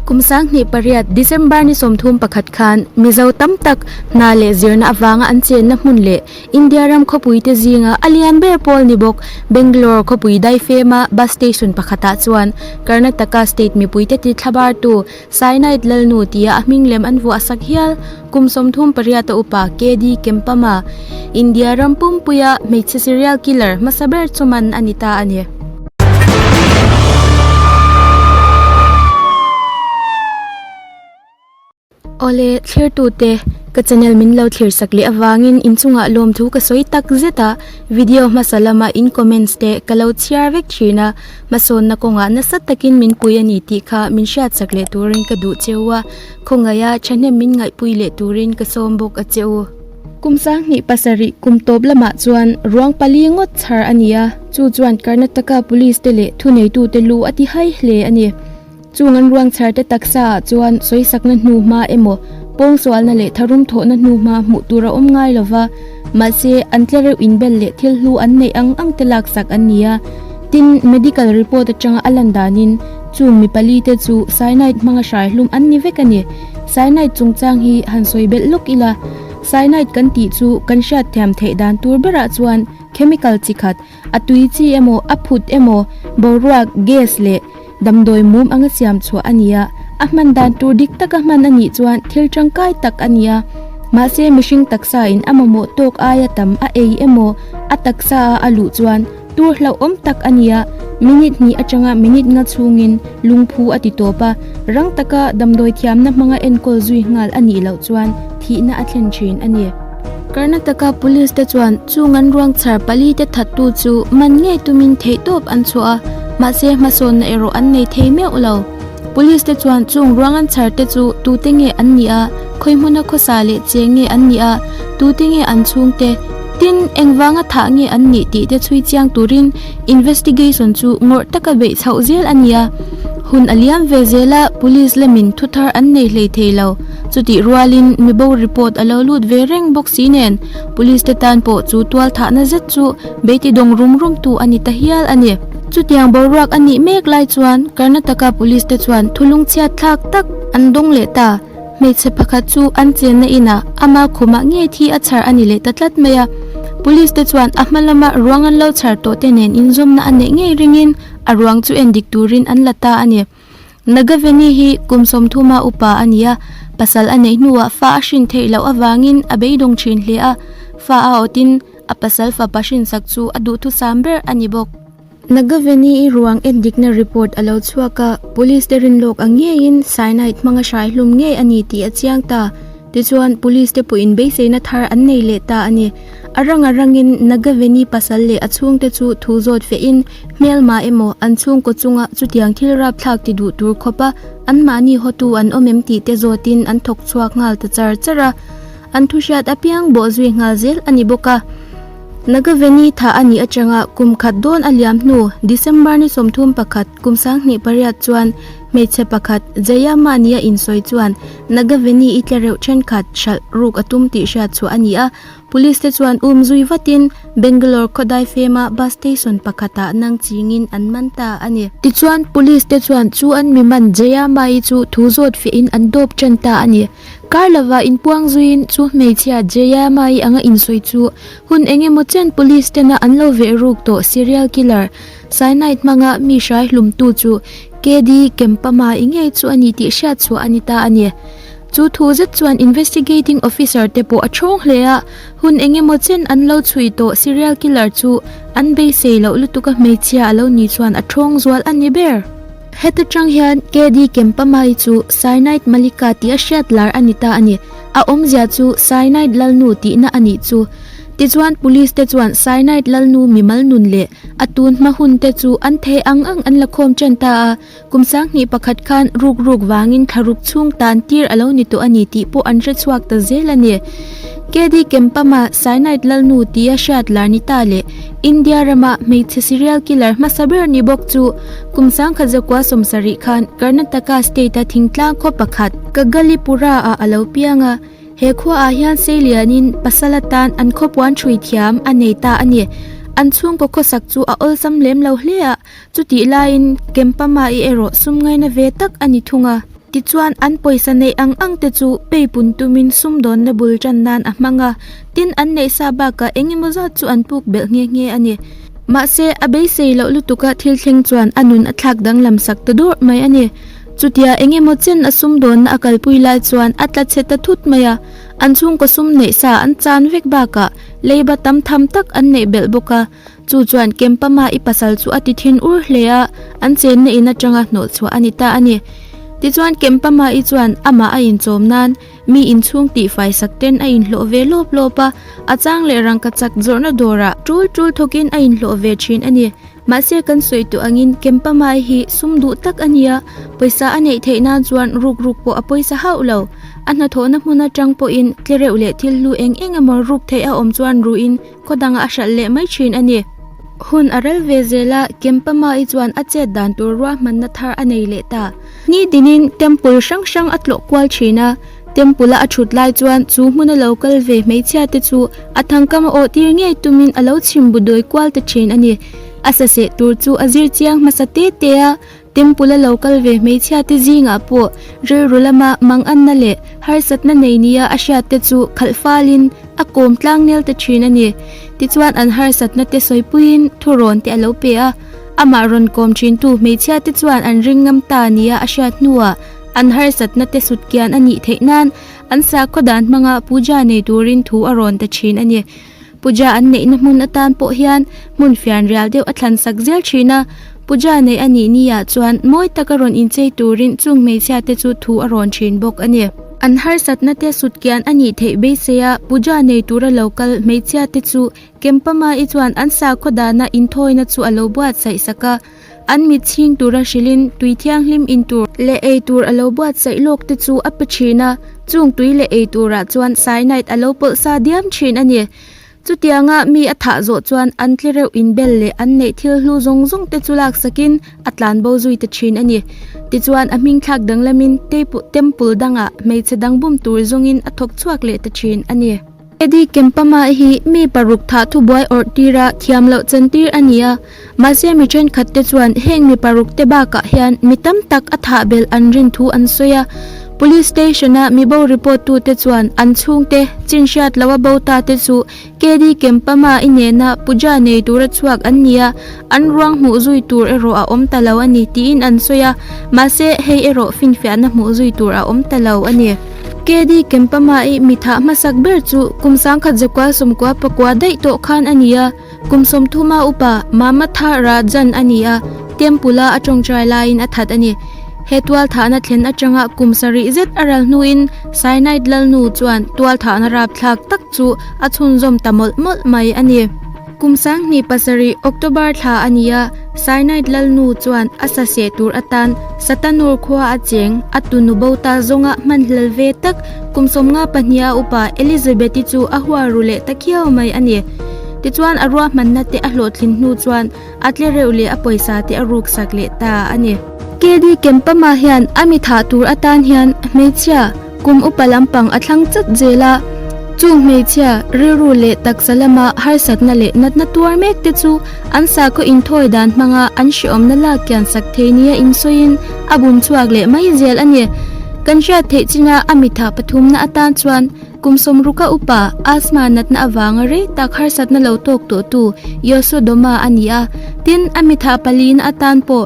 Kum sanghnih pariat, December ni sawmthum pakhat khan Mizo tam tak hna leh zirna avanga an chenna hmun leh India ram khawpuite zinga a lian ber pawl ni bawk Bangalore khawpui dai fema bus station pakhatah chuan Karnataka state mipuite ti thlabartu Cyanide Lalnu tia a hming lem an vuah sak hial Kum sawmthum pariat a upa KD Kempama, India ram pumpuia hmeichhe serial killer hmasa ber chu man a ni ta a ni. Awle, thlertute, ka channel min lo thirsak leh avangin inchungah lawmthu ka sawi tak zet a, video hmasa lama in comments te ka lo chhiar vek thin a, hmasawnna kawngah nasa takin min pui a ni tih kha min hriatsak leh turin ka duh cheu a. Khawngaia thahnem min ngaihpui leh turin ka sawm bawk a che u. Kum sang hnih pasarih kum tawp lamah chuan ruang pali ngawt chhar a ni a, chu chuan Karnataka Police te leh thuneitute lu a ti hai hle a ni. Chung an ruang chhar te taksa ah chuan sawisakna hnu hma emaw, pawngsualna leh tharum thawhna hnu hma hmuh tur a awm ngai lo va, Mahse, an tla reuh inbel leh thil hlu an neih ang ang te laksak an ni a. Tin, medical report atanga a lan danin, chung mi pali te chu cyanide hmanga hrai hlum an ni vek a ni. Cyanide chungchang hi han sawi belh lawk ila, cyanide kan tih chu kan hriat thiam theih dan tur berah chuan chemical chi khat, A tui chi emaw, a phut emaw, boruak, gas, leh damdawi mum anga siam chhuah a ni a. A hman dan tur dik taka hman a nih chuan thil tangkai tak a ni a. Mahse, mihring taksa in a mamawh tawk aia tam a ei emaw, a taksa a a luh chuan tur hlauhawm tak a ni a. Minute hnih atanga minute nga chhungin lungphu a ti tawp a. Rang taka damdawi thiamna hmanga enkawl zui nghal a nih loh chuan thihna a thlen thin a ni. Karnataka Police te chuan chung an ruang chhar pali te that tu chu man ngei tumin theih tawp an chhuah a, mahse hmasawnna erawh an nei thei meuh lo. Police te chuan chung ruang an chhar te chu tute nge an nih a, khawihmuna khawsa leh che nge an nih a, tute nge an chhung te, tin, engvanga thah nge an nih tih te chhui chiang turin investigation chu ngawrh taka beih chhoh zel a ni a, hun a liam ve zel a, police lamin thuthar an nei hlei thei lo. Chutih rualin mi bohri pawt a lo lut ve reng bawk si nen, police te tan pawh chu tual thahna zet chu Beti dawng rum rum tu a ni ta hial a ni. Chutiang boruak a nih mek lai chuan Karnataka police te chuan thulung chhiat thlak tak an dawng leh ta. Hmeichhe pakhat chu an chenna inah ama khumah nge thi a chhar a ni leh ta tlat mai a. Police te chuan a hma lama ruang an lo chhar tawh te nen inzawmna a neih ngei ringin a ruang chu en dik turin an la ta a ni. Nagaveni hi kum sawmthuma upa a ni a, pasal a neih hnuah fa a hrin theih loh avangin a beidawng thin hle a, fa a awtin a pasal fapa hrinsak chu a duhthusam ber a ni bawk. Nagaveni i ruang en dikna report a lo chhuak a, police te rinlawk ang ngeiin cyanide hmanga hrai hlum ngei a ni tih a chiang ta. Tichuan, police te pawhin beiseina thar an nei leh ta a ni. A rang a rangin Nagaveni pasal leh a chhungte chu thu zawt fiahin, Hmelma emaw an chhungkaw chunga chutiang thil rapthlak ti duh tur khawpa anmahni hawtu an awm em tih te zawtin an thawk chhuak nghal ta char char a, an thu hriat a piang bawh zui nghal zel a ni bawk a. Nagaveni tha a nih atanga kum khat dawn a liam hnu December ni sawmthum pakhat kum sanghnih pariat chuan hmeichhe pakhat Jaya mahni a insawi chuan Nagaveni i tle reuh thenkhat hralh ruk a tum tih hriatchhuah a ni a, Police te chuan um zui vatin Bangalore Khodai fema bus station pakhatah nang chingin an man ta a ni. Tichuan, Police te chuan chu an miman Jayamai chu thu zawt fiahin an dawp ṭan ta a ni. Kar lova in puang zuiin chu hmeichhia Jayamai anga insawi chu hun eng emaw chen Police tena an lo veh ruk tawh Serial Killer Cyanide hmanga mi hrai hlumtu chu KD Kempama i ngei chu a ni tih hriatchhuah a ni ta a ni. Chu thu zet chuan Investigating Officer te pawh a chhawng hle a, hun eng emaw chen an lo chhui tawh Serial Killer chu an beisei loh lutuk a hmeichhia a lo ni chuan a chhawng zual a ni ber. Heta chang hian KD Kempamai chu Cyanide Malika tih a hriat lar a ni ta a ni, a awmzia chu Cyanide Lalnu tihna a nih chu. Tichuan Police te chuan Cyanide Lalnu mimal nun leh a tunhma hun te chu an thei ang ang an la khawm chen ta a, Kum sang hnih pakhat khan ruk ruk vangin thlaruk chhung tan tir a lo ni tawh a ni tih pawh an hre chhuak ta zel a ni. KD Kempama Cyanide Lalnu ti a hriat Larnita leh India rama hmeichhe serial killer hmasa ber ni bawk chu kum sang khat zakua sawmsa rih khan Karnataka state a thingtlang khaw pakhat Kagalipura ah a lo piang a. He khua ah hian sei lian in pasal atan an khawpuan hrui thiam a nei ta a ni. An chhungkaw khawsak chu a awlsam lem lo hle a. Chutih laiin Kempama i erawh sum ngaina ve tak a ni thung a. Tichuan, an pawisa neih ang ang te chu pei pun tumin sum dawnna bul tan nan a hmang a, tin an neih sa bakah eng emaw zat chu an puk belh nghe nghe a ni. Mahse, a beisei loh lutuka thil thleng chuan a nun a thlak danglam sak ta dawrh mai a ni. Chutia eng emaw chen a sum dawnna a kalpui lai chuan a tla che ta thut mai a. An chhungkaw sum neih sa an chan vek bakah leiba tam tham tak an neih belh bawk a. Chu chuan Kempama i pasal chu a ti thin ur hle a, an chenna in atanga hnawh chhuah a ni ta a ni. Tichuan Kempama-i chuan amah a inchawm nan mi inchhung tihfai sak ten a inhlawh ve lawp lawp a, a chang leh rangka chak zawrhna dawrah tul tul thawkin a inhlawh ve thin a ni. Mahse kan sawi tawh angin Kempama-i hi sum duh tak a nia, pawisa a neih theih nan chuan ruk ruk pawh a pawisa hauh lo. A hnathawhna hmun atang pawhin tlereuh leh thil hlu eng eng emaw ruk theih a awm chuan ruin Khawdangah a hralh leh mai thin a ni. Hun a rel ve zel a, Kempamai chuan a chet dan tur ruahmanna thar a nei leh ta. Ni dinin temple hrang hrang a tlawh kual thin a, temple-a a thut lai chuan chu hmuna lo kal ve hmeichhia te chu a thangkam a awhtir ngei tumin a lo chhim bu dawi kual ta thin a ni. A sa seh tur chu a zir chiang hmasa te te a, Temple a lo kal ve hmeichhia te zingah pawh rilru lama manganna leh harsatna nei nia a hriat te chu khalh falin a kawm tlang nel ta thin a ni. Tichuan an harsatna te sawipuiin thu rawn te a lo pe a. Amah rawn kawm thintu hmeichhia te chuan an ring ngam ta nia a hriat hnuah an harsatna te sut kian a nih theih nan an sakhaw dan hmanga puja nei turin thu a rawn ta thin a ni. Puja an neihna hmun atan pawh hian hmun fianrial deuh a thlan sak zel thin a. Puja neih a nih ni ah chuan mawi taka rawn inchei turin chung hmeichhia te chu thu a rawn thin bawk a ni. An harsatna te sut kian a nih theih beisei a, puja nei tur a lo kal hmeichhia te chu Kempama i chuan an sakhaw dana inthawina chu a lo buatsaih sak a. An mit chhing tura hrilhin tui thianghlim in tur leh ei tur a lo buat saih lawk te chu a pe thin a, chung tui leh ei turah chuan cyanide a lo pawlh sa diam thin a ni. Chutianga mi a thah zawh chuan an tle reuh in bel leh an neih thil hlu zawng zawng te chu laksakin a tlan bo zui ta thin a ni. Tichuan a hmingthlak danglamin teipu temple dangah hmeichhe dangbum tur zawngin a thawk chhuak leh ta thin a ni. Eddie Kempama hi mi paruk thah thubuai awrh tira thiam loh chen tir a ni a, mahse mi thenkhatte chuan heng mi parukte bakah hian mi tam tak a thah belh an rin thu an sawi a. Police station-a mi bo report tute chuan an chhungte chin hriat loh a bo ta te chu Keddie Kempama inehna puja nei tura chhuak an ni a, An ruang hmuh zui tur erawh a awm ta lo a ni, tiin an sawi a. Mahse, hei erawh finfiahna hmuh zui tur a awm ta lo a ni. KD Kempama-i mi thah hmasak ber chu kum sangkhat Zakua Sawmkua pakua daih tawh khan a ni a. Kum sawmthuma upa Mama Tha Ra Jan a ni a, Temple-a a tawngtai laiin a that a ni. He tualthahna thlen atanga kum sarih zet a ral hnuin Cyanide lal nu chuan tualthahna rapthlak tak chu a chhunzawm ta mawlh mawlh mai a ni. Kum sanghnih pasarih, October thla a ni a, Cyanide lal nu chuan a sa seh tur atan Satanur khua a cheng a tunu bota zawnga hman hlel ve tak. Kum sawmnga pahniha upa Elizabeth-i chu a huaru leh ta khiau mai a ni. Tichuan a ruahmanna te a hlawhthlin hnu chuan a tle reuh leh a pawisa te a ruksak leh ta a ni. Kedi Kempama hian a mithah tur atan hian hmeichhia, Kum upa lampang a thlang chat zel a, chung hmeichhia rilru leh taksa lama harsatna leh natna tuar mek te chu an sakhaw inthawi dan hmanga an hrehawmna lak kian sak thei nia insawiin a bum chhuak leh mai zel a ni. Kan hriat theih china a mitha pathumna atan chuan kum sawmruka upa asthma natna avanga rei tak harsatna lo tawk tawhtu Yoshua Doma a ni a, tin a mitha palina atan pawh,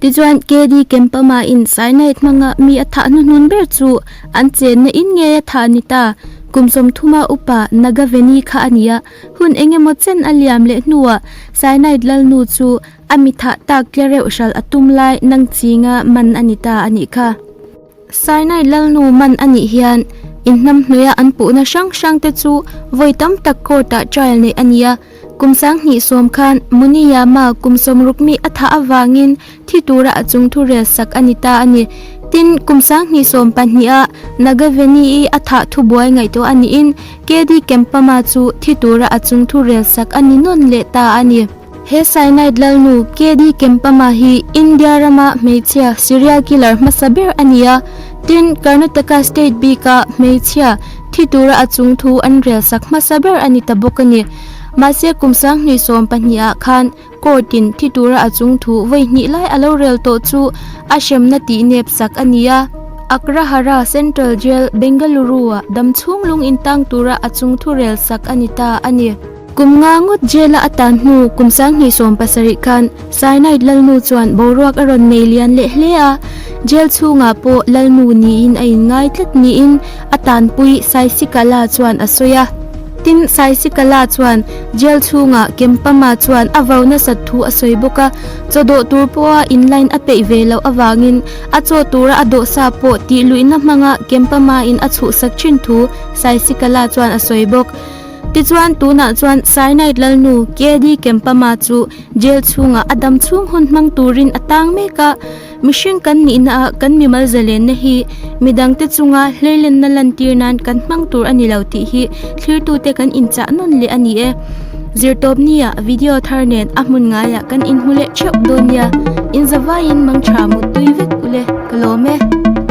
Tichuan, KD Kempama in Sainait hmanga mi a thah hnuhnun ber chu an chenna in nge a thah a ni ta? Kum sawmthuma upa Nagaveni kha a ni a, hun eng emaw chen a liam leh hnuah Sainait lalnu chu a mi thah tak tlereuh hral a tum lai nangchinga man a ni ta a nih kha. Sinai lalnu man a nih hian inhnam hnawihah an puhna hrang hrangte chu vawi tam tak court-ah trial neih a ni a. Kum sang hnih sawm khan Muniyama kum sawm rukmi a thah avangin thi tura a chung thu rel sak a ni ta a ni. Tin, kum sang hnih sawm pahniha Nagaveni-i a thah thu buai ngaih tawh a niin Kedi Kempama chu thi tura a chung thu rel sak a ni nawn leh ta a ni. He cyanide lalnu KD Kempama hi India rama hmeichhia serial killer hmasa ber a ni a, tin, Karnataka state bika hmeichhia thi tura a chung thu an rel sak hmasa ber a ni ta bawk a ni. Mahse, kum sanghnih sawm pahnih ah khan court in thi tura a chung thu vawi hnih lai a lo rel tawh chu a hremna tih nep sak a ni a. Agrahara Central Jail, Bengaluru ah damchhung lung intang tura a chung thu rel sak a ni ta a ni. Kum nga ngawt Jail-a a tan hnu kum sang hnih sawm pasarih khan Cyanide Lalnu chuan boruak a rawn nei lian leh hle a. Jail chhungah pawh Lalnu niin a inngai tlat niin a tanpui Saisikala chuan a sawi a. Tin, Saisikala chuan Jail chhungah Kempama chuan a vau nasat thu a sawi bawk a. Chawdawh tur pawha in line a peih ve loh avangin a chaw tura a dawhsa pawh tihluihna hmanga Kempama in a chhuhsak thin thu Saisikala chuan a sawi bawk. Tichuan, tunah chuan Cyanide lalnu KD Kempama chu jail chhungah a dam chhung hun hmang turin a tang mek a. Mihring kan nihnaah kan mimal zalenna hi midangte chunga hleilenna lantir nan kan hmang tur a ni lo tih hi thlirtute kan inchah nawn leh a ni e. Zirtawpnia video thar nen a hmun ngaiah kan inhmu leh theuh dawn nia. Inzavaiin mangtha muttui vek ule ka lawm e.